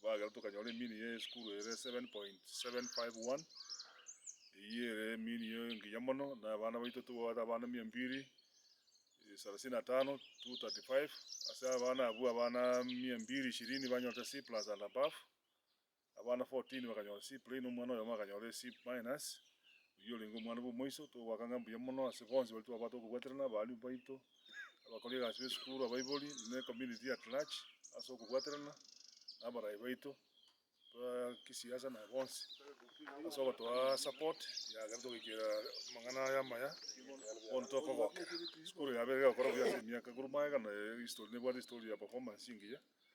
Twagera tokanyora emini ye esukuru ere 7.751. Eyio ere emini engiya mono na abana baito tobwate abana mia mbiri salasini na tano, 235. Ase abana abwo abana mia mbiri ishirini banyorete C+ and above, abana 14 bakanyora C plain, omwana oyomo akanyora C-, oyio orenge omwana bwa omoiso. Togoaka ng'a mbuya mono ase bonsi baria twabate okobwaterana, abalimu baito. abakora egasi b'esukuru, abaibori, na ecommunity at large ase okobwaterana na abarai baito ba kisiasa na bonsi ase ogotoa support yagera togoikera amang'ana aya amaya bono tokogokera. Esukuru yabeire egokora buya ase emiaka korwa magega na history nebwate history ya performance engiya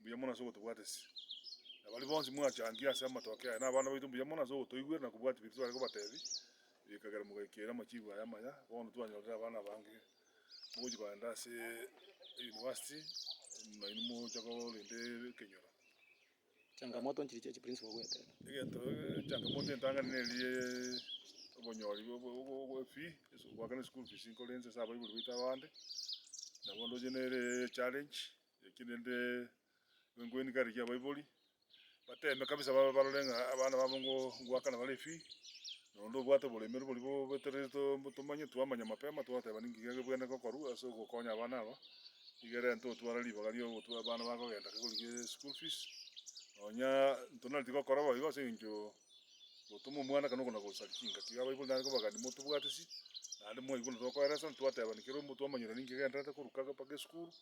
mbuya mono ase ogotobwatesia. Na baria bonsi mwachangia ase amatoke aya, nabana baito mbuya mono ase ogotoigwera na kobwatia biria tware kobateebia, erio ekagera mogaikera amachiigo aya amaya. Bono twanyorire abana abange mogochia kogenda ase University, nainwe mocha korende ekenyoro. Changamoto nchiri chie chiprinsipol goetera. Egento changamoto entang'ani neri ye obonyori bwe fee goakana eschool fees nkore inche ase abaibori baito abande nabo ndoche nere echallenge eki rende nko encourage abaibori bateme kabisa barore ng'a abana babo ngoakana bare efee Na onde obwate oboremeru boria bobetereri tomanye, twamanya mapema twateba ninki geke bwene gokorwa ase ogokonya abana aba, nigo erente otware ribaga ria ogotwara abana bagogenda kegorigia eschool fees. Nonya ntonareti gokora boigo ase eng'encho gotoma omwana kana okona gosaria chingaki. Iga abaibori nare kobagani motobwatisi, naende mwaigwa buna tokoeresana twatebani kera omonto twamanyerwa ninki genderete koruka mpaka esukuru,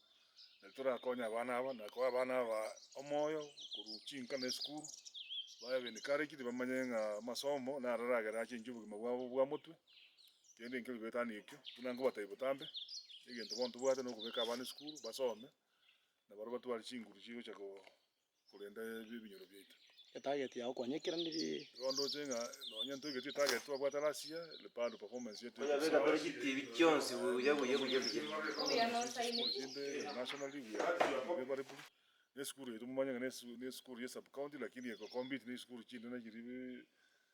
Na torakonye abana aba na koa abana aba omoyo korwa chinka na esukuru, babe b'encouraged, bamanye ng'a amasomo naro aragere ache inche obogima bwabo bwa motwe, kende nkebwe betani ekio, buna nkobatebi botambe, egento bono tobwate nokobeka abana esukuru basome, nabarabwo batware chinguru chigocha ko. korende ebinyoro biaito. Etarget yao kwanyekera neri? Igo ndoche ng'a nonye ntoigetie etarget twabwate last year, bado performance yeito eke esukuru chinde eke nationally we are unfavorable, ne esukuru yaito momanye ng'a ne esukuru ye sub county lakini eko compete ne esukuru chinde ne chiri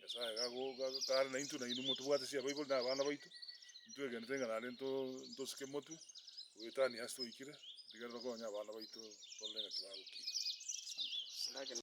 Nyasae gakare naintwe, nainwe motobwate chiabaibori na abana baito, intwe egenete ng'a naende ntosike motwe goetania ase twaikire, rigereria tokonye abana baito torore ng'a tibagokina. Asante.